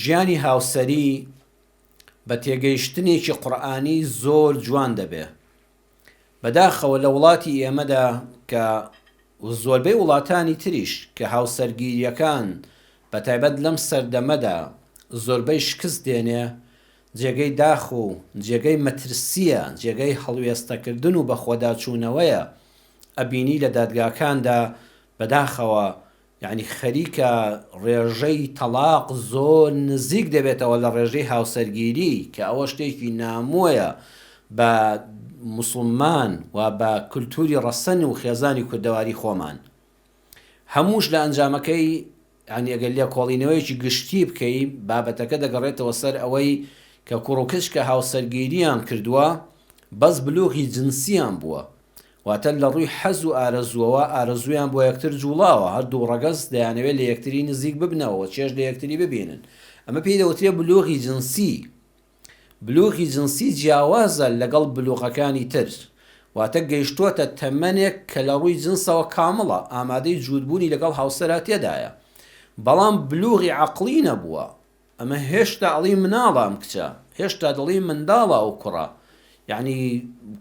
ژیانی هاوسەری بە تێگەیشتنێکی قورئانی زۆر جوان دەبێ. بەداخەوە لە وڵاتی ئێمەدا کە و زۆربەی وڵاتانی تریش کە هاوسەرگیریەکان بە تایبەت لەم سەردەمەدا زۆربەی شکست دێنێ جێگەی داخ و جێگەی مەترسیە جێگەی هەڵوێستەکردن و بەخۆداچوونەوەیە ئەبینی لە دادگاکاندا بەداخەوە یانی خەریکە ڕێژەی تەڵاق زۆر نزیک دەبێتەوە لە ڕێژەی هاوسەرگیری کە ئەوە شتێکی نامۆیە بە موسڵمان و بە کللتوری ڕەسەن و خێزانی کوردەواری خۆمان هەمووش لە ئەنجامەکەی ینی ئەگەر لێ کۆڵینەوەیەکی گشتی بکەی بابەتەکە دەگەڕێتەوە سەر ئەوەی کە کوڕوکچ کە هاوسەرگیریان کردووە بەس بلوغی جنسیان بووە واتە لە ڕووی حەز و ئارەزووەوە ئارەزوویان بۆ یەکتر جووڵاوە، هەر دوو ڕەگەز دەیانەوێت لە یەکتری نزیک ببنەوە و چێژ لە یەکتری ببینن، ئەمە پێی دەوترێت بلوغی جنسی، بلوغی جنسی جیاوازە لەگەڵ بلوغەکانی تر، واتە گەیشتووەتە تەمەنێک کە لە ڕووی جنسەوە کامڵە، ئامادەی جووتبوونی لەگەڵ هاوسەرە تێدایە، بەڵام بلوغی عەقڵی نەبووە، ئەمە هێشتا ئەڵی مناڵە ئەم کچە هێشتا دەڵی منداڵە ئەو کوڕە یعنی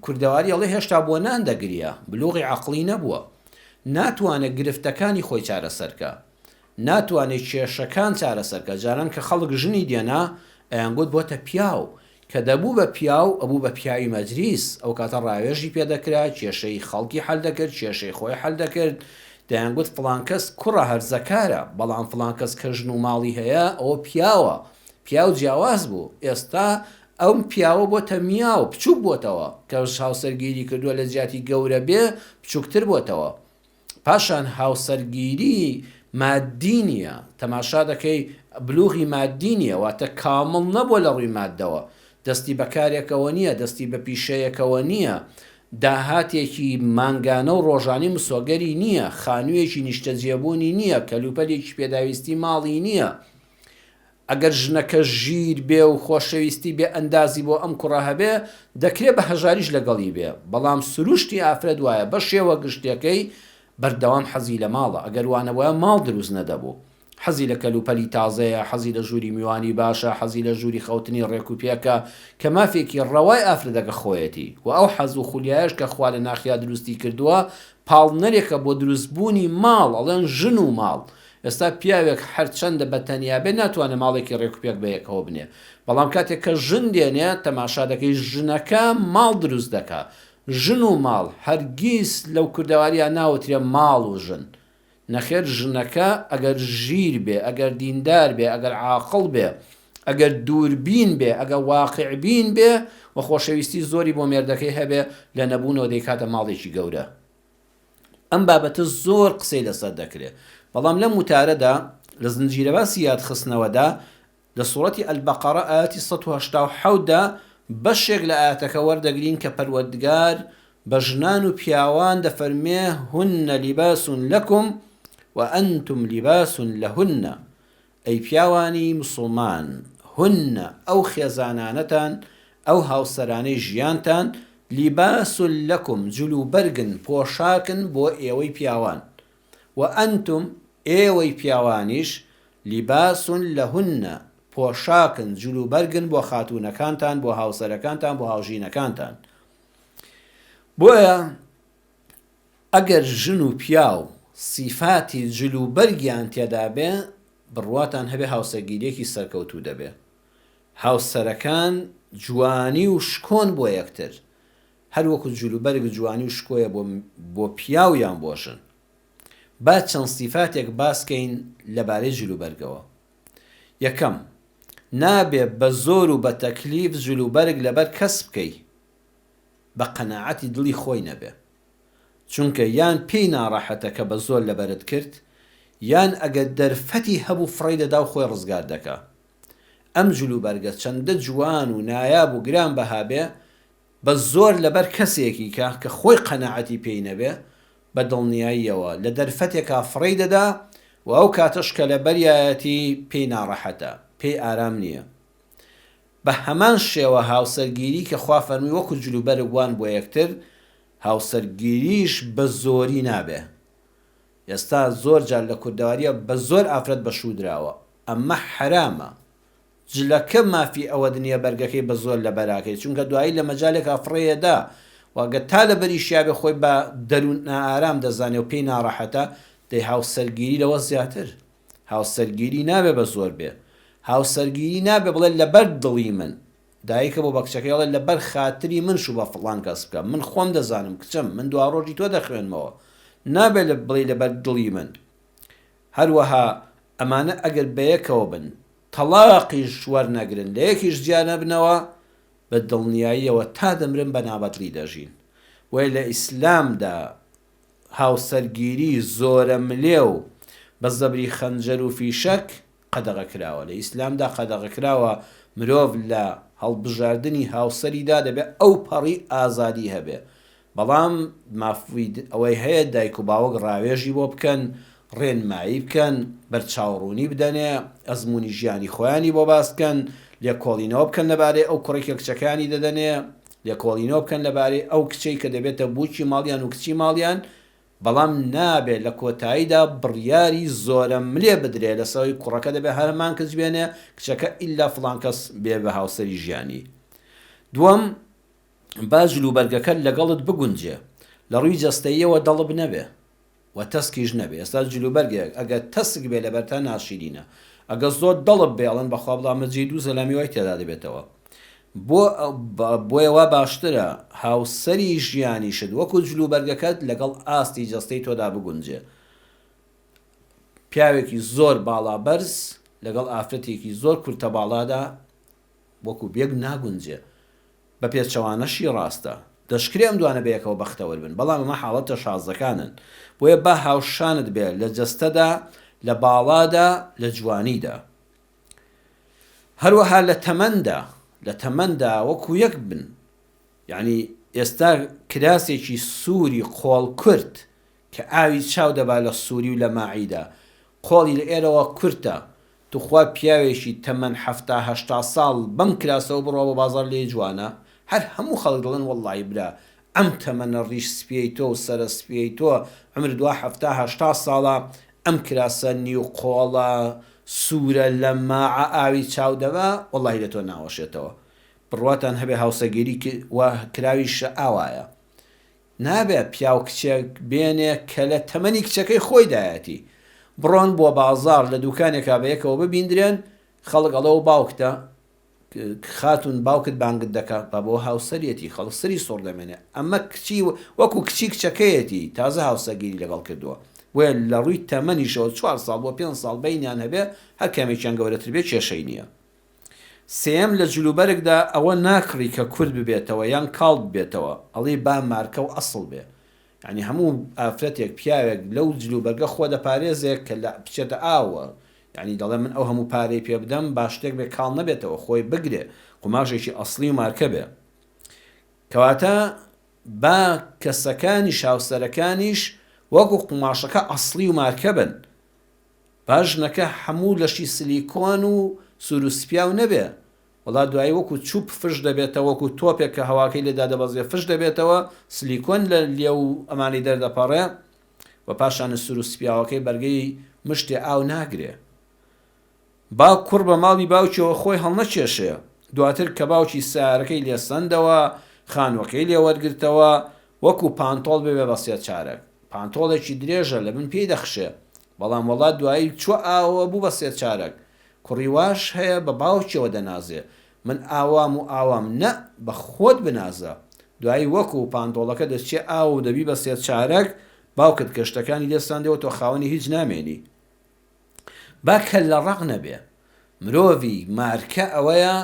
کوردەواری ئەڵێ هێشتا بۆ نان دەگریا بلوغی عقلی نەبووە ناتوانێت گرفتەکانی خۆی چارەسەرکە ناتوانێت کێشەکان چارەسەرکە جاران کە خەڵک ژنی دێنا ئەیانگوت بۆتە پیاو کە دەبوو بە پیاو، ئەبوو بە پیاوی مەجلیس، ئەو کاتە ڕاوێژی پێ دەکرا، کێشەی خەڵکی حەل دەکرد، کێشەی خۆی حەل دەکرد، دەیانگوت فڵان کەس کوڕە هەرزەکارە، بەڵام فڵان کەس کە ژن و ماڵی هەیە، ئەوە پیاوە، پیاو جیاواز بوو، ئێستا ئەم پیاوە بۆتە میاو، بچووک بۆتەوە، کەس هاوسەرگیری کردووە لەجیاتی گەورە بێ، بچووکتر بۆتەوە. پاشان هاوسەرگیری ماددی نییە، تەماشا دەکەی بلوغی ماددی نییە، واتە کامڵ نەبووە لە ڕووی ماددەوە، دەستی بە کارێکەوە نییە، دەستی بە پیشەیەکەوە نییە، داهاتێکی مانگانە و ڕۆژانەی مسۆگەری نییە، خانوویەکی نیشتەجێبوونی نییە، کەلوپەلێکی پێداویستی ماڵی نییە. ئەگەر ژنەکە ژیر بێ و خۆشەویستی بێ ئەندازی بۆ ئەم کوڕە هەبێ دەکرێ بە هەژاریش لەگەڵی بێ بەڵام سروشتی ئافرەت وایە بە شێوە گشتیەکەی بەردەوام حەزی لە ماڵە ئەگەر وانەبوایە ماڵ دروست نەدەبوو حەزی لە کەلوپەلی تازەیە حەزی لە ژووری میوانی باشە حەزی لە ژووری خەوتنی ڕێک و پێکە کە مافێکی ڕەوای ئافرەتەکە خۆیەتی وە ئەو حەز و خولیایەش کە خوا لە ناخیا دروستی کردووە پاڵنەرێکە بۆ دروست بوونی ماڵ ئەڵێن ژن و ماڵ ئێستا پیاوێک هەرچەندە بە تەنیا بێت ناتوانێت ماڵێکی رێک و پێک بە یەکەوە بنێ بەڵام کاتێک کە ژن دێنێ تەماشا دەکەی ژنەکە ماڵ دروست دەکا ژن و ماڵ هەرگیز لەو کوردەواریا ناوترێ ماڵ و ژن نەخێر ژنەکە ئەگەر ژیر بێ ئەگەر دیندار بێ ئەگەر عاقڵ بێ ئەگەر دووربین بێ ئەگەر واقعبین بێ و خۆشەویستی زۆری بۆ مێردەکەی هەبێ لە نەبوونەوە دەیکاتە ماڵێکی گەورە. ئەم بابەتە زۆر قسەی لەسەر دەکرێ بەڵام لەم وتارەدا لە زنجیرەباسی یادخستنەوەدا لە سورەتی البقرە ئایەتی سەد و هەشتا و حەوت دا بەشێک لە ئایەتەکە وەردەگرین کە پەروەردگار بە ژنان و پیاوان دەفەرمێ هن لباس لکم وانتم لباس لهن ئەی پیاوانی موسڵمان هن ئەو خێزانانەتان ئەو هاوسەرانەی ژیانتان لباس لکم جلوبەرگن پۆشاکن بۆ ئێوەی پیاوان و انتم ئێوەی پیاوانیش لباس لهن پۆشاکن جلوبەرگن بۆ خاتوونەکانتان بۆ هاوسەرەکانتان بۆ هاوژینەکانتان بۆیە ئەگەر ژن و پیاو سیفاتی جل و بەرگیان تێدا بێ بڕواتان هەبێ هاوسەرگیریەکی سەرکەوتوو دەبێ هاوسەرەکان جوانی و شکۆن بۆ یەکتر هەر وەکو جل و بەرگ جوانی و شکۆیە بۆ بۆ پیاو یان بۆ ژن با چەند سیفاتێک باس کەین لەبارەی جل و بەرگەوە یەکەم نابێ بە زۆر و بە تەکلیف جل و بەرگ لەبەر کەس بکەی بە قەناعەتی دڵی خۆی نەبێ چونکە یان پێی ناڕەحەتە کە بە زۆر لەبەرت کرد یان ئەگەر دەرفەتی هەبوو فڕێی دەدا و خۆی ڕزگار دەکا ئەم جلوبەرگە چەندە جوان و نایاب و گران بەها بێ بە زۆر لەبەر کەسێکی کە کە خۆی قەناعەتی پێی نەبێ بە دڵنیاییەوە لە دەرفەتێکا فڕێی دەدا و ئەو کاتەش کە لەبەریایەتی پێی ناڕەحەتە پێی ئارام نییە بە هەمان شێوە هاوسەرگیری کە خوا فەرمووی وەکو جل و بەرگ وان بۆ یەکتر، هاوسەرگیریش بە زۆری نابێ. ئێستا زۆر جار لە کوردەوارییە بە زۆر ئافرەت بە شوو دراوە. ئەمە حەرامە. جلەکە مافی ئەوەد نییە بەرگەکەی بە زۆر لە بەرا کەی، چونکە دوایی لە مەجالێکا فڕێ ئەدا و گەر تا لە بەری شیابێ خۆی بە دەروون نائارام دەزانێ و پێی ناڕەحەتە، دەی هاوسەرگیری لەوە زیاتر. هاوسەرگیری نابێ بە زۆر بێ. هاوسەرگیری نابێ بڵێ لەبەر دڵی من. دایکە بۆ بە کچەکەی ئەڵێ لەبەر خاتری من شوو بە فڵان کەس بکە. من خۆم دەزانم کچم. من دواڕۆژی تۆ دەخوێنمەوە. نابێ بڵێی لەبەر دڵی من. هەروەها ئەمانە ئەگەر بەیەکەوە بن، تەڵاقیش وەرنەگرن، لە یەکیش جیا نەبنەوە، بە دڵنیاییەوە تا دەمرن بە نابەدڵی دەژین. بۆیە لە ئیسلامدا هاوسەرگیری زۆرەملێ و بە زەبری خەنجەر و فیشەک قەدەغە کراوە، لە ئیسلامدا قەدەغە کراوە مرۆڤ لە هەڵبژاردنی هاوسەریدا دەبێ ئەوپەڕی ئازادی هەبێ، بەڵام مافی ئەوەی هەیە دایک و باوک ڕاوێژی بۆ بکەن، ڕێنمایی بکەن، بەرچاوڕوونی بدەنێ، ئەزموونی ژیانی خۆیانی بۆ باس بکەن، لێکۆڵینەوە بکەن لەبارەی ئەو کوڕێک کە کچەکەیانی دەدەنێ، لێکۆڵینەوە بکەن لەبارەی ئەو کچەی کە دەبێتە بووکی ماڵیان و کچی ماڵیان، بەڵام نابێت لە کۆتاییدا بڕیاری زۆرەملێ بدرێت لەسەر ئەوەی کوڕەکە دەبێت هەر هەمان کچ بێنێ، کچەکە ئیلا فڵان کەس بێ بە هاوسەری ژیانی. دووەم، با جلوبەرگەکە لەگەڵت بگونجێ، لە ڕووی جەستەییەوە دەڵب نەبێ. وە تەسکیش نەبێ ئێستا جل و بەرگێک ئەگە تەسک بێ لەبەرتا ناشیرینە ئەگە زۆر دڵت بێ ئەڵێن بەخوا بڵام لە جێی دوو زەلا میوای تێدا دەبێتەوە بۆ بۆیە وا باشترە هاوسەری ژیانیشت وەکو جل و بەرگەکەت لەگەڵ ئاستی جەستەی تۆدا بگونجێ پیاوێکی زۆر باڵا بەرز لەگەڵ ئافرەتێکی زۆر کورتە باڵادا وەکو بێک ناگونجێ بە پێچەوانەشی ڕاستە. دەشکرێ ئەم دوانە بەیەکەوە بەختەوەر بن، بەڵام ئەمە حاڵەتە شازەکانن. بۆیە با هاوشانت بێ لە جەستەدا، لە باڵادا، لە جوانیدا. هەروەها لە تەمەندا، لە تەمەندا وەکو یەک بن. یەعنی ئێستا کراسێکی سووری قۆڵکورت کە ئاوی چاو دەبا لە سوری و لە ماعیدا قۆڵی لە ئێرەوە کورتە توخوا پیاوێکی تەمەن حەفتا هەشتا ساڵ بەم کراسەوە بڕوا بۆ بازاڕ لێی جوانە هەر هەموو خەڵک دڵێن وەڵاهی برا ئەم تەمەنە ڕیش سپیەی تۆ و سەرە سپیەی تۆ عەمر دوا حەفتا هەشتا ساڵە ئەم کراسە نیو قۆڵە سورە لە ماعە ئاوی چاو دەبا وەڵاهی لە تۆ ناوەشێتەوە بڕواتان هەبێ هاوسەگیری کراویش ئاوایە نابێ پیاو کچێک بێنێ کە لە تەمەنی کچەکەی خۆیدایەتی، بڕۆن بۆ بازاڕ لە دووکانێکا بە یەکەوە ببیندرێن، خەڵک ئەڵێ ئەو باوکتە، خاتوون باوکت بانگت دەکا، با بۆ هاوسەرێتی، خەڵک سەری سوڕ دەمێنێ، ئەمە کچی وەکوو کچی کچەکەیەتی، تازە هاوسەگیری لەگەڵ کردووە، بۆیە لە ڕووی تەمەنیشەوە چوار ساڵ بۆ پێنج ساڵ بەینیان هەبێ، هەر کامێکیان گەورەتر بێ کێشەی نییە. سێیەم لە جلوبەرگدا ئەوە ناکڕی کە کورت ببێتەوە یان کاڵ ببێتەوە ئەڵێی با مارکە و ئەسڵ بێ یانی هەموو ئافرەتێک پیاوێک لەو جلوبەرگە خۆ دەپارێزێ کە لە بچێتە ئاوە یانی دەڵێ من ئەو هەموو پارەی پێ بدەم با شتێک بێ کاڵ نەبێتەوە خۆی بگرێ قوماشێکی ئەسڵی و مارکە بێ کەواتە با کەسەکانیش هاوسەرەکانیش وەکو قوماشەکە ئەسڵی و مارکە بن با ژنەکە هەموو لەشی سلیکۆن و سورو سپیاو نەبێ وەڵا دوایی وەکو چوپ فش دەبێتەوە وەکو تۆپێک کە هەواکەی لێ دادەبەزێ فش دەبێتەوە سلیکۆن لە لێو و ئەمانی دەردەپەڕێ و پاشانش سورو سپیاوەکەی بەرگەی مشتێ ئاو ناگرێ با کوڕ بە ماڵی باوکیەوە خۆی هەڵنەکێشێ دواتر کە باوکی سەیارەکەی لێ سەندەوە خانوەکەی لێ وەرگرتەوە وەکو پانتۆڵ ببێ بە سێ چارەک پانتۆڵێکی درێژە لە بن پێی دەخشێ بەڵام وەڵا دوایی چوە ئاوەوە بوو بە سێ چارەک کوڕی واش هەیە بە باوکیەوە دەنازێ من ئاوام و ئاوام نە بە خۆت بنازە دوایی وەکو پانتۆڵەکە دەچیە ئاوە و دەبی بە سێ چارەک باوکت کە شتەکانی لێ سەندەوە تۆ خاوەنی هیچ نامێنی با کەللە ڕەق نەبێ مرۆڤی مارکە ئەوەیە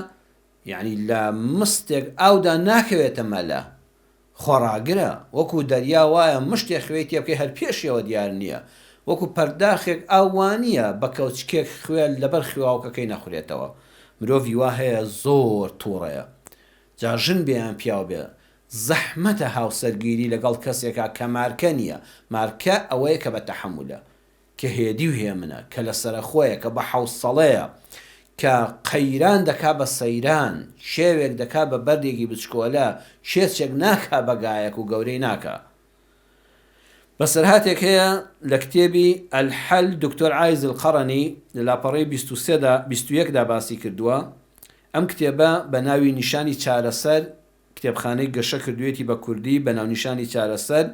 یەعنی لە مستێک ئاودا ناکەوێتە مەلە، خۆڕاگرە، وەکو دەریا وایە مشتێ خوێی تێ بکەی هەر پێشیەوە دیار نیە، وەکو پەرداخێک ئاو وانیە بە کەوچکێک خوێ لەبەر خوێاوکەکەی نەخورێتەوە، مرۆڤی وا هەیە زۆر توڕەیە جا ژن بێ یان پیاو بێ، زەحمەتە هاوسەرگیری لەگەڵ کەسێکا کە مارکە نیە، مارکە ئەوەیە کە بە تەحەمولە، کە هێدی و هێمنە، کە لە سەرەخۆیە، کە بە حەوسەڵەیە، کە قەیران دەکا بە سەیران، کێوێک دەکا بە بەردێکی بچکۆلە، کێچێک ناکا بە گایەک و گەورەی ناکا. بەسەرهاتێک هەیە لە کتێبی، الحل، دکتۆر عایز القرنی لە لاپەڕەی بیست و سێ دا، بیست و یەک دا باسی کردووە، ئەم کتێبە بە ناوی نیشانی چارەسەر، کتێبخانەی گەشە کردوویەتی بە کوردی بە ناونیشانی چارەسەر،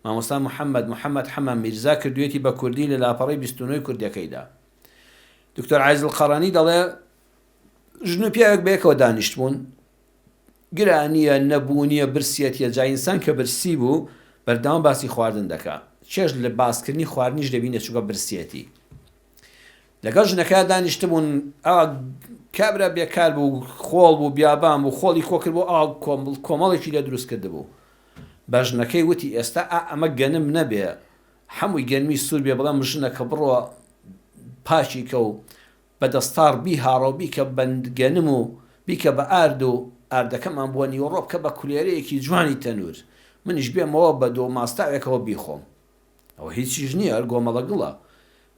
مامۆستا محەممەد محەممەد حەمە میرزا کردوویەتی بە کوردی لە لاپەڕەی بیست و نۆی کوردییەکەیدا. دکتۆر عایز القەڕەنی دەڵێ، ژن و پیاوێک بە یەکەوە دانیشتبوون، گرانییە، نەبوونییە، برسیەتییە، جا ئینسان کە برسی بوو، بەردەوام باسی خواردن دەکا، چێژ لە باسکردنی خواردنیش دەبینێ، چونکە برسیەتی. لەگەڵ ژنەکەیا دانیشتبوون، ئا کابرا بێکار بوو، خۆڵ بوو، بیابان بوو، خۆڵی کۆ کردبوو، ئا کۆمڵ کۆمەڵێکی لێ دروست کردبوو. بە ژنەکەی وتی، ئێستا ئا ئەمە گەنم نەبێ، حەمووی گەنمی سوور بێ، بڵێم ژنەکە بڕۆ پاکی کە و بە دەستاڕ بیهاڕە و بیکە بە گەنم و بیکە بە ئارد و ئاردەکەمان بۆ نیوەڕۆ بکە بە کولێرەیەکی جوانی تەنوور، منیش بێمەوە بە دۆ و ماستاوێکەوە بیخۆم. ئەوە هیچیش نییە، هەر گۆمەڵە گڵە.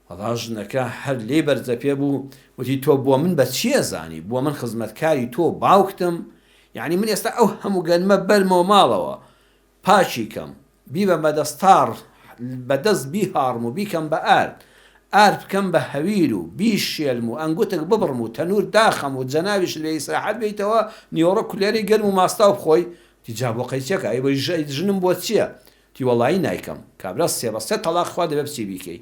ئەڵا ژنەکە هەر لێی بەرزەپێ بوو وتی تۆ بۆ من بە چی ئەزانی بۆ من خزمەتکاری تۆ و باوکتم یانی من ئێستا ئەو هەموو گەنمە بەرمەوە ماڵەوە پاکی کەم بیبەم بە دەستاڕ بە دەست بیهاڕم و بیکەم بە ئارد ئارد بکەم بە هەویر و بیشێلم و ئەنگوتک ببڕم و تەنوور داخەم و جەنابیشت لێ ئیسراحەت بێیتەوە نیوەڕۆ کولێرەی گەرم و ماستاو بخۆی وتی جا بۆ قەیچەکە ئەی ژنم بۆ چییە تی وەڵایی نایکەم کابرا سێ بە سێ تەڵاق خوا دەبێ بچی بیکەی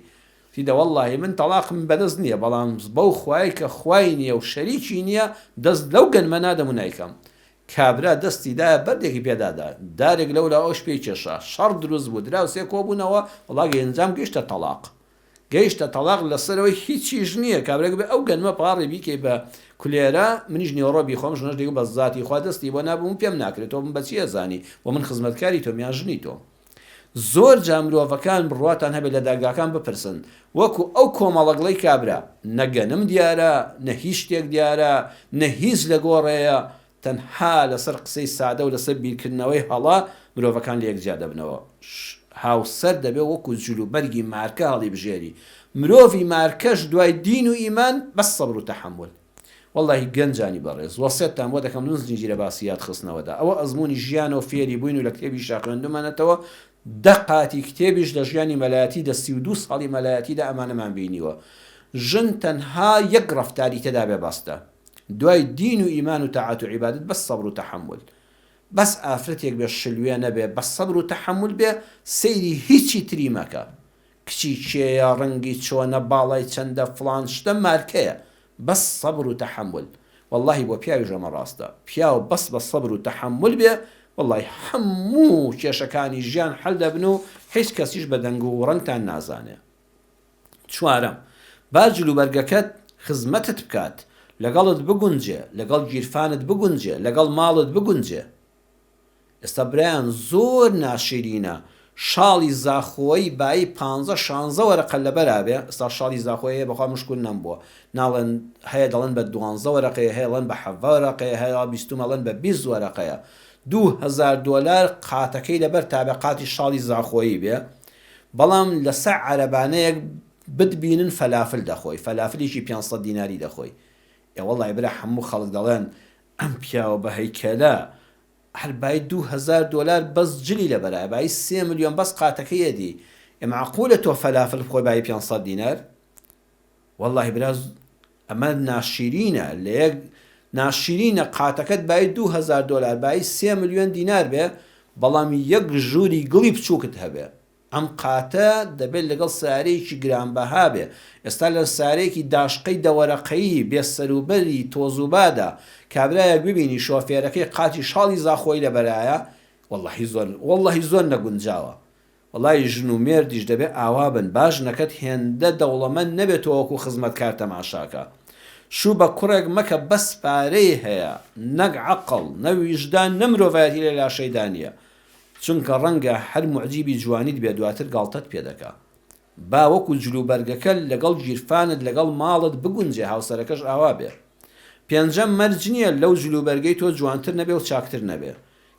تی دە وەڵایی من تەڵاقم بەدەست نیە بەڵام بەو خوایەی کە خوای نیە و شەریکی نیە دەست لەو گەنمە نادەم و نایکەم کابرا دەستی دایە بەردێکی پێدا دا دارێک لەولاوەش پێی کێشا شەڕ دروست بوو دراوسێ کۆبونەوە وەڵا گەنجام گەیشتە تەڵاق گەیشتە تەڵاق لەسەرەوەی هیچیش نیە کابرا گوبێ ئەو گەنمە پاڕی بیکەی بە کولێرە منیش نیۆڕۆ بیخۆم ژنەش دەیگوت بە زاتی خوا دەستی بۆ نابم و پێم ناکرێ تۆ من بەچی ئەزانی و من خزمەتکاری تۆم یان ژنی تۆم زۆر جا مرۆڤەکان بڕواتان هەبێ لە داگاکان بپرسن وەکو ئەو کۆمەڵەگڵەی کابرا نە گەنم دیارە نە هیچ شتێک دیارە نە هیچ لەگۆڕێیە تەنها لەسەر قسەی سادە و لەسەر بیرکردنەوەی هەڵە مرۆڤەکان لەیەک جیا دەبنەوە. هاوسەر دەبێت وەکو جل و بەرگی مارکە هەڵیبژێری. مرۆڤی مارکەش دوای دین و ئیمان بەس سەبر و تەحەمول. وەڵلاهی گەنجانی بەڕێز وەسێتتان بۆ دەکەم لون زنجیرە باسی یاد خستنەوەدا ئەوە ئەزمونی ژیانە و فێری بوین و لە کتێبیشا خوێندومەنەتەوە دە قاتی کتێبیش لە ژیانی مەلایەتی دە سی و دوو ساڵی مەلایەتیدا ئەمانەمان بینیوە ژن تەنها یەک ڕەفتاری تێدابێ بەستە. دوای دین و ئیمان و تاعەت و عیبادەت بەس سەبر و تەحەمول بەس ئافرەتێک بێ شلوێ نەبێ بەس سەبر و تەحەمول بێ سەیری هیچی تری مەکە کچی کێیە ڕەنگی چۆنە باڵای چەندە فڵان شتە مارکەیە بەس سەبر و تەحەمول وەڵاهی بۆ پیاویش ئەمە ڕاستە پیاو بەس بە سەبر و تەحەمول بێ وەڵاهی هەموو کێشەکانی ژیان حەل دەبن و هیچ کەسیش بە دەنگ و ڕەنگتان نازانێ. چوارەم، با جلوبەرگەکەت خزمەتت بکات، لەگەڵت بگونجێ، لەگەڵ گیرفانت بگونجێ، لەگەڵ ماڵت بگونجێ. ئێستا برایان زۆر ناشیرینە شاڵی زاخۆیی بایی پانزە شانزە وەرەقە لەبەرا بێ، ئێستا شاڵی زاخۆیی هەیە بەخوا مشک وننم بووە ناڵێن هەیە دەڵێن بە دوانزە وەرەقەیە هەیە ڵێن بە حەڤە ڕەقەیە هەیە بیستووم ئەڵێن بە بیست وەرەقەیە دوو هەزار دۆلار قاتەکەی لەبەر تابێ قاتی شاڵی زاخۆیی بێ بەڵام لە سەع عەرەبانەیەک بتبینن فەلافل دەخۆی فەلافلیکی پێنج سەد دیناری دەخۆی ئێ وەڵای برا حەموو خەڵک دەڵێن ئەم پیاوە بە هەیکەلە هەر بایی دوو هەزار دۆلار بەس جلی لە بەرایە بایی سێ ملیۆن بەس قاتەکەی ئەدی ئێ مەعقولە تۆ فەلافل بخۆی بایی پێنج سەد دینار وەڵاهی برا ئەمە ناشیرینە لە یەک ناشیرینە قاتەکەت بایی دوو هەزار دۆلار بایی سێ ملیۆن دینار بێ بەڵام یەک ژووری گڵی بچووکت هەبێ ئەم قاتە دەبێت لەگەڵ سارەیەکی گرانبەها بێ ئێستا لە سارەیەکی داشقەی دەوەرەقەیی بێ سەروبەری تۆزوبادا کابرایەک ببینی شۆفێرەکەی قاتی شاڵی زاخۆی لەبەرایە وەڵاهی زۆر وەڵاهی زۆر نەگونجاوە وەڵای ژن و مێردیش دەبێ ئاوا بن با ژنەکەت هێندە دەوڵەمەند نەبێ تۆ وەکو خزمەتکار تەماشاکە شوو بە کوڕێک مەکە بەس پارەی هەیە نەک عەقڵ نە ویژدان نە مرۆڤایەتی لە لاشەیدا نیە چونکە ڕەنگە هەر موعجیبی جوانیت بێ دواتر گاڵتەت پێ دەکا با وەکو جلوبەرگەکە لەگەڵ گیرفانت لەگەڵ ماڵت بگونجێ هاوسەرەکەش ئاوا بێ پێنجەم مەرج نیە لەو جلوبەرگەی تۆ جوانتر نەبێ و چاکتر نەبێ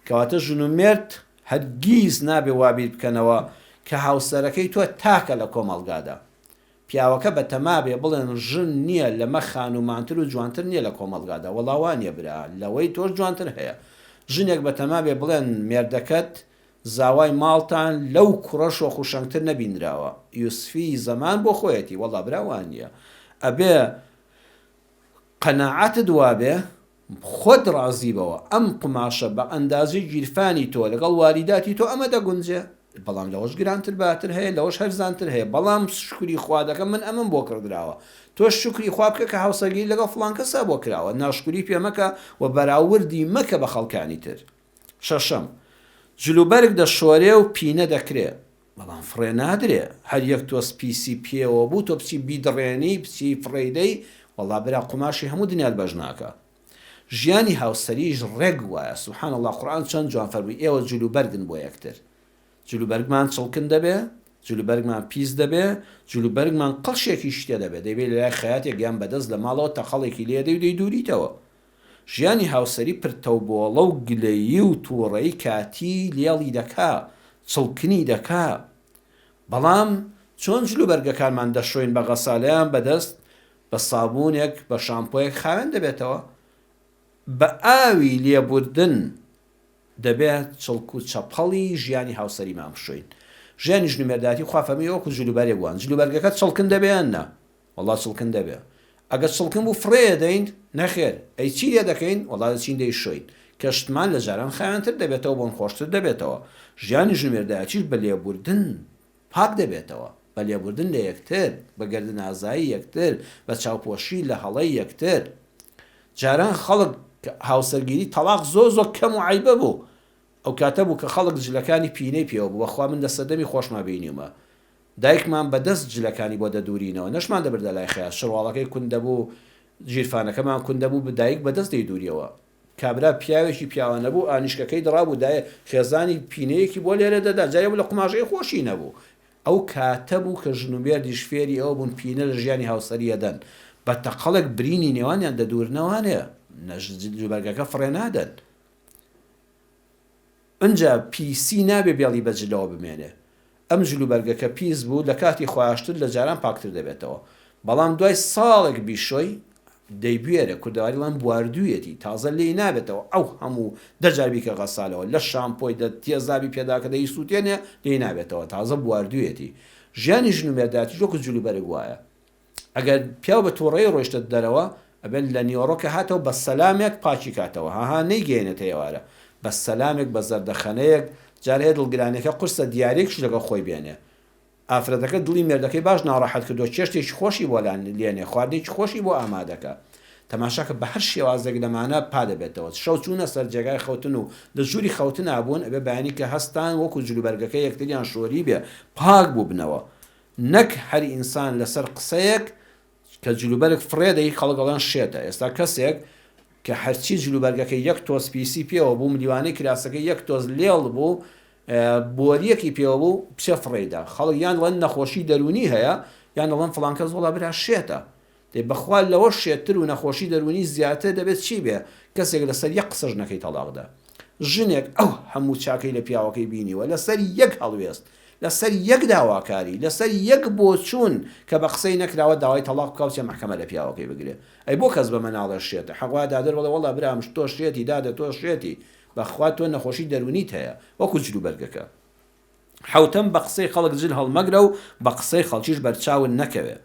کەواتە ژن و مێرد هەرگیز نابێ وا بیر بکەنەوە کە هاوسەرەکەی تۆ تاکە لە کۆمەڵگادا. پیاوەکە بە تەما بێ بڵێن ژن نییە لەمە خانوومانتر و جوانتر نییە لە کۆمەڵگادا، وەڵا وا نییە برا، لەوەی تۆش جوانتر هەیە. ژنێک بە تەما بێ بڵێن مێردەکەت زاوای ماڵتان لەو کوڕە شۆخ و شەنگتر نەبینراوە، یوسفی زەمان بۆ خۆیەتی، وەڵا برا وا نییە. ئەبێ قەناعەتت وا بێ خۆت ڕازی بەوە ئەم قوماشە بە ئەندازەی گیرفانی تۆ لەگەڵ واریداتی تۆ ئەمە دەگونجێ بەڵام لەوەش گرانتر باتر هەیە لەوەش هەرزانتر هەیە بەڵام شوکری خوا دەکەم من ئەمەم بۆ کڕدراوە تۆش شوکری خوا بکە کە هاوسەرگیریت لەگەڵ فڵان کەسا بۆ کراوە ناشکوری پێ مەکە و بەراوردی مەکە بە خەڵکانی تر شەشەم جلوبەرگ دەشۆرێ و پینە دەکرێ بەڵام فڕێ نادرێ هەر یەک تۆز پیسی پێوە بوو تۆ بچی بیدڕێنی بچی فڕێی دەی وەڵا برا قوماشی هەموو دنیات بەش ناکا ژیانی هاوسەریش ڕێک وایە سبحان اللە قورئان چەند جوان فەرمووی ئێوە جل و بەرگن بۆ یەکتر جل و بەرگمان چڵکن دەبێ جل و بەرگمان پیس دەبێ جل و بەرگمان قڵشێکیش تێ دەبێ دەیبەی لەلای خەیاتێک یان بەدەست لە ماڵەوە تەقەڵێکی لێ دەی و دەیدووریتەوە ژیانی هاوسەری پرتەوبۆڵە و گلەیی و توڕەی کاتی لێڵی دەکا، چڵکنی دەکا. بەڵام چۆن جلوبەرگەکانمان دەشۆین بە غەسالەیان بەدەست، بە سابوونێک، بە شامپۆیەک خاوێن دەبێتەوە؟ بە ئاوی لێبوردن دەبێ چڵک و چەپەڵی ژیانی هاوسەریمان بشۆین. ژیانی ژن و مێردایەتی خوا فەرمووی وەکوو جلوبەرگ وان. جلوبەرگەکە چڵکن دەبێ یان نا؟ وەڵا چڵکن دەبێ ئەگەر چڵکن بوو فڕێ ئەدەین نەخێر ئەی چی لێ دەکەین وەڵا دەچین دەیشۆین کە شتمان لە جاران خاوێنتر دەبێتەوە بۆن خۆشتر دەبێتەوە ژیانی ژومێردایەتیش بە لێبوردن پاک دەبێتەوە بە لێبوردن لە یەکتر بە گەردن ئازایی یەکتر بە چاوپۆشی لە هەڵەی یەکتر جاران خەڵک هاوسەرگیری تەڵاق زۆر زۆر کەم و عەیبە بوو ئەو کاتە بوو کە خەڵک جلەکانی پینەی پێوە بوو بەخوا من لە سەردەمی خۆشما بینیومە دایکمان بە دەست جلەکانی بۆ دەدورینەوە، نەشمان دەبردە لای خەیاس، شەرواڵەکەی کون دەبوو، گیرفانەکەمان کون دەبوو، دایک بە دەست دەیدوریەوە. کابرا پیاوێکی پیاوانە بوو، ئانیشکەکەی دڕابوو، دایە خێزانی پینەیەکی بۆ لێرە دەدا، جا یەبوو لە قوماژەی خۆشی نەبوو. ئەو کاتە بوو کە ژن و مێردیش فێری ئەوە بوون پینە لە ژیانی هاوسەری ئەدەن، بە تەقەڵێک برینی نێوانیان دەدورنەوە، نە جلوبەرگەکە فڕێ نادەن. ئنجا پیسی نابێ بێڵی بە جلەوە بمێنێ. ئەم جل و بەرگە کە پیس بوو لە کاتی خۆاشتن لە جاران پاکتر دەبێتەوە. بەڵام دوای ساڵێک بیشۆی دەیبوێرێ، کوردەواری دەڵێن بواردوویەتی، تازە لێی نابێتەوە ئەو هەموو، دە جار بیکە غەسالەوە، لە شامپۆی دە تێزابی پێداکە دەیسووتێنێ لێی نابێتەوە، تازە بواردوویەتی. ژیانی ژن و مێردایەتیش وەکو جل و بەرگ وایە. ئەگەر پیاو بە توڕەیی ڕۆیشتە دەرەوە ئەبێت لە نیوەڕۆ کە هاتەوە بە سەلامێک پاکی کاتەوە هەها نەیگەیەنێتە ئێوارە بە سەلامێک بە زەردەخەنەیەک جار هەیە دڵگرانیەکە قورسە دیاریەکیش لەگەڵ خۆی بێنێ ئافرەتەکە دڵی مێردەکەی باش ناڕەحەت کردوە چێشتێکی خۆشی بۆ لا لێنێ خواردنێکی خۆشی بۆ ئامادەکە تەماشاکە بە هەر شێوازێک لەمانە پا دەبێتەوە شەو چوونە سەر جێگای خەوتن و لە ژووری خەوتنا بوون ئەبێ بەیانی کە هەستان وەکو جلوبەرگەکە یەکتریان شۆریبێ پاک بووبنەوە نەک هەر ئینسان لەسەر قسەیەک کە جلوبەرگ فڕێ دەی خەڵک ئەڵێن شێتە ئێستا کەسێک کە هەرچی جلوبەرگەکەی یەک تۆز پیسی پێوە بوو ملیوانەی کراسەکەی یەک تۆز لێڵ بوو بۆریەکی پێوە بوو بچێ فڕێیدا خەڵک یان ڵەن نەخۆشی دەروونی هەیە یان ئەڵێن فڵان کەس وەڵا برا شێتە دەی بەخوا لەوە شێتتر و نەخۆشی دەروونی زیاتر دەبێت چی بێ کەسێک لەسەر یەک قسەش نەکەی تەڵاق دا ژنێک ئەو هەموو چاکەی لە پیاوەکەی بینیوە لەسەر یەک هەڵوێست لەسەر یەک داواکاری لەسەر یەک بۆچوون کە بە قسەی نەکراوە داوای تەڵاق بکا و چێ مەحکەمە لە پیاوەکەی بگرێ ئەی بۆ کەس بەمە ناڵێ شێتە حەق وایە دادەر بڵێ وەڵا برام تۆ شێتی دادە تۆ شێتی بەخوا تۆ نەخۆشی دەروونیت هەیە وەکو جلوبەرگەکە. حەوتەم بە قسەی خەڵک جل هەڵمەگرە و بە قسەی خەڵکیش بەرچاوت نەکەوێ.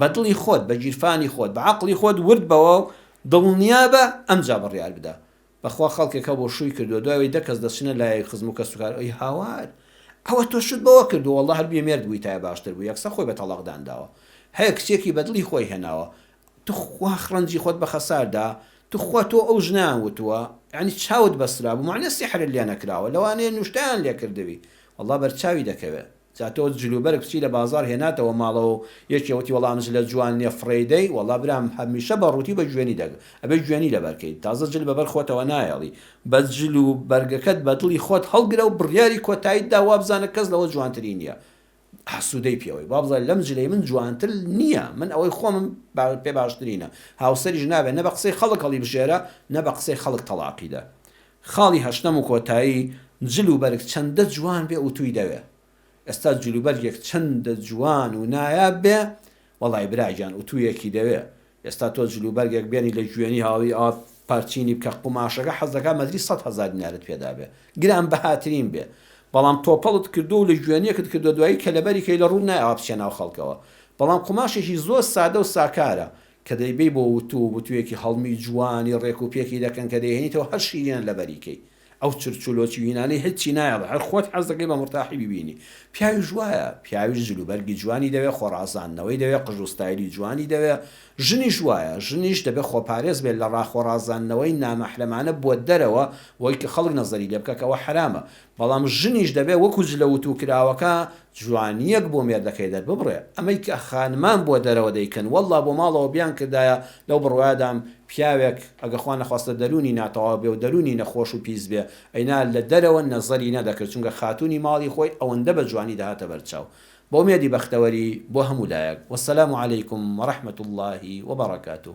بە دڵی خۆت، بە گیرفانی خۆت، بە عەقڵی خۆت ورد بەوە و دڵنیا بە، ئەمجا بڕیار بدە. بە خوا خەڵکێک هەبوو شووی کردووە، دوای ئەوەی دە کەس دەچنە لایەوی خزم و کەسوکار، ئەی هاوار! ئەوە تۆ شووت بەوە کردووە، وەڵڵا هەر بێ مێرد بوویتایە باشتر بوو، یەکسەر خۆی بە تەڵاق دانراوە. هەیە کچێکی بە دڵی خۆی هێناوە، توخوا خڕەنجی خۆت بە خەسار دا توخوا تۆ ئەو ژنەیان وتووە یانی چاوت بەسترابوو مەعنە سیحرت لێ نەکراوە لەوانەیە نوشتەیان لێ کردبی وەڵا بەرچاوی دەکەوێ جا تۆ جل و بەرگ بچی لە بازاڕ هێناتەوە ماڵەوە و یەکێ وتی وەڵا ئەم جلە جوان نیە فڕێی دەی وەڵا برام هەمیشە بە ڕووتی بە جوێنی دەک ئەبێ جوێنی لەبەر کەی تازە جل بەبەر خۆتەوە نایەڵی بە جل و بەرگەکەت بە دڵی خۆت هەڵگرە و بڕیاری کۆتایت دا وابزانە کەس لەوە جوانتری نیە حەسودەی پێوەی بابزای لەم جلەی من جوانتر نیە من ئەوەی خۆمم پێ باشترینە هاوسەریش نابێ نە بە قسەی خەڵک هەڵی بژێرە نە بە قسەی خەڵک تەڵاقی دە خاڵی هەشتەم و کۆتایی جل و بەرگ چەندە جوان بێ ئوتوی دەوێ ئێستا جلوبەرگێک چەندە جوان و نایاب بێ وەڵای برا گیان ئوتوویەکی دەوێ ئێستا تۆ جل و بەرگێک بێنی لە گوێنی هاوی ئاوا پارچینی بکە قوماشەکە حەز دەکا مەتری سەد هەزار دینارت پێدا بێ گران بەهاترین بێ بەڵام تۆپەڵت کردووە و لە گوێنیەکت کردووە دوایی کەلەبەری کەی لە ڕووت نایە ئاوا بچێ ناو خەڵکەوە بەڵام قوماشێکی زۆر سادە و ساکارە کە دەیبەی بۆ وتوو و بتووێکی هەڵمی جوانی ڕێک و پێکی دەکەن کە دەیهێنیتەوە هەر شیرینە لەبەری کەی ئەو چرچ و لۆچی و هینانەی هیچی نایەڵێ هەر خۆت حەز دەکەی بە مورتاحی بیبینی پیاویش وایە پیاویش جل و بەرگی جوانی دەوێ خۆڕازاندنەوەی دەوێ قژ و ستایلی جوانی دەوێ ژنیش وایە ژنیش دەبێ خۆپارێز بێ لە ڕا خۆڕازاندنەوەی نامەحرەمانە بۆ دەرەوە بۆی کە خەڵک نەزەری لێ بکا کە ئەوە حەرامە بەڵام ژنیش دەبێ وەکو جلە وتووکراوەکە جوانیەک بۆ مێردەکەی دەرببڕێ ئەمەی کە خانمان بۆ دەرەوە دەیکەن واللە بۆ ماڵەوە بیان کردایە لەو بڕوایەدام پیاوێک ئەگە خوا نەخواستە دەرونی ناتەواو بێ و دەرونی نەخۆش و پیس بێ ئەینا لە دەرەوە نەزەری نەدەکرد چونکە خاتونی ماڵی خۆی ئەوەندە بە جوانی دەهاتە بەرچاو بۆ مێردی بەختەوەری بۆ هەموو لایەک والسلام علیکم ورحمەتواللە وبرکاته.